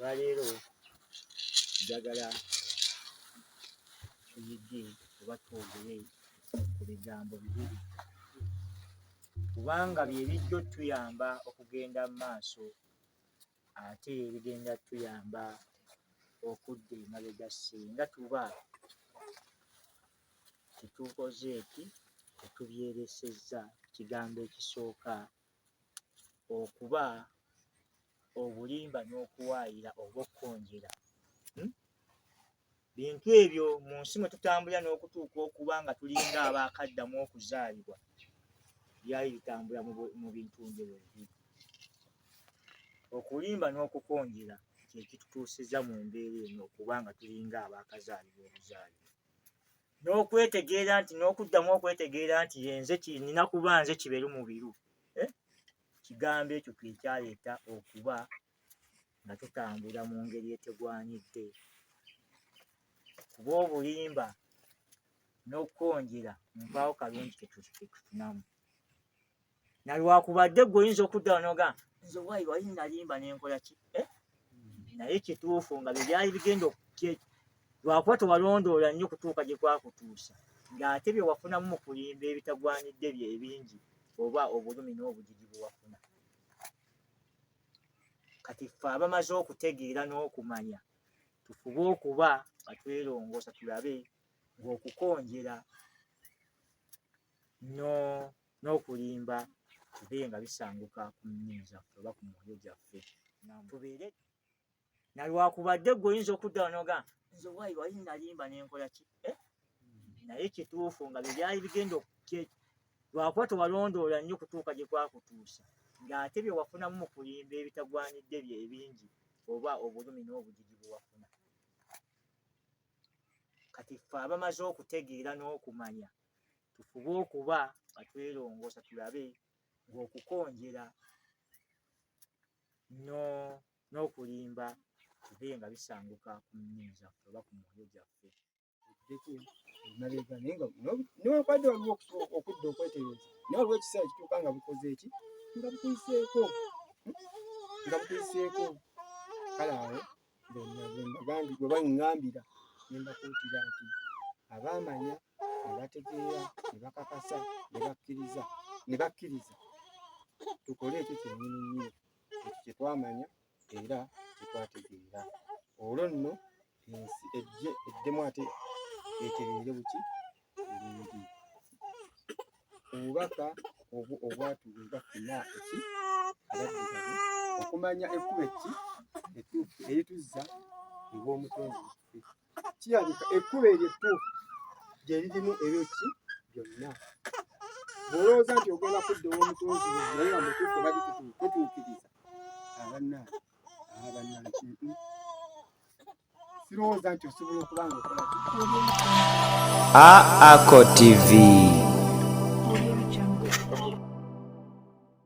olwaleero njagala tuyige oba twogere ku bigambo bibiri kubanga bye bijja otuyamba okugenda mu maaso ate ebigenda tuyamba okudda emabega singa tuba tetukoze eki tetubyeresezza kigambo ekisooka okuba obulimba n'okuwaayira oba okukonjera hmm? Bintu ebyo mu nsi mwe tutambulira n'okutuuka okuba nga tulinga abaakaddamu okuzaalibwa byali bitambula mu bintu njebwe bibiri. Okulimba n'okukonjera kye kitutuusizza mu mbeera eno okuba nga tulinga abaakazaalibwa obuzaalibwa. n'okwetegeera nti n'okuddamu okwetegeera nti yenze kinina kuba nze kiberu mubiru eh? kigambo ekyo kyekyaleeta okuba nga tutambula mu ngeri etegwanyidde kuba obulimba n'okukonjera mpaawo kalungi ketufunamu nalwakubadde gwe oyinza okudda wanoga nze wayi wali nalimba nenkola ki eh? naye kituufu nga byebyali bigenda okukye lwakuba tewalondoola nnyo kutuuka gye kwakutuusa ng'ate bye wafunamu mu kulimba ebitagwanidde bye ebingi oba obulumi n'obujiji bwe wafuna kati ffe abamaze okutegeera n'okumanya tufube okuba nga twerongoosa tulabe ng'okukonjera n'okulimba bibe nga bisanguka ku nnimi zaffe oba ku mwoyo gyaffe tubeere nalwakubadde gwe oyinza okudda wanoga nze wayi wali nalimba nenkola ki eh? naye kituufu nga byebyali bigenda okukye lwakuba tewalondoola nnyo kutuuka gye kwakutuusa ng'ate bye wafunamu mu kulimba ebitagwanidde bye ebingi oba obulumi n'obujiji bwe wafuna kati ffe abamaze okutegeera n'okumanya tufube okuba nga twelongoosa tulabe ng'okukonjera no n'okulimba bibe nga bisanguka ku nnimi zaffe oba ku mwoyo gyaffe newankubadde waliwo okudda okwetereeza naye waliwo ekiseera kituuka nga bukoze eki nga bukuyiseeko nga bukuyiseeko kale awo bwenagambi bwe bangambira ne mbakuutira nti abaamanya ne bategeera ne bakakasa ne bakkiriza ne bakkiriza tukole ekyo kyennyini nnyini kye twamanya era kye twategeera olwo nno ensi ejje eddemu ate etereere buki bulungi obubaka obwo obwatuweebwa fena eki abaddugavu okumanya ekkubo ekki etuufu erituzza ew'omutonzi waffe kirabika ekkubo eryo ettuufu gye lirimu ebyo ki byonna bw'olowooza nti ogenda kudda ow'omutonzi wo naye nga mutuufu oba bitutuukiriza abannaani abannaani kintu sirowooza nti osobola okuba nga okola aako tv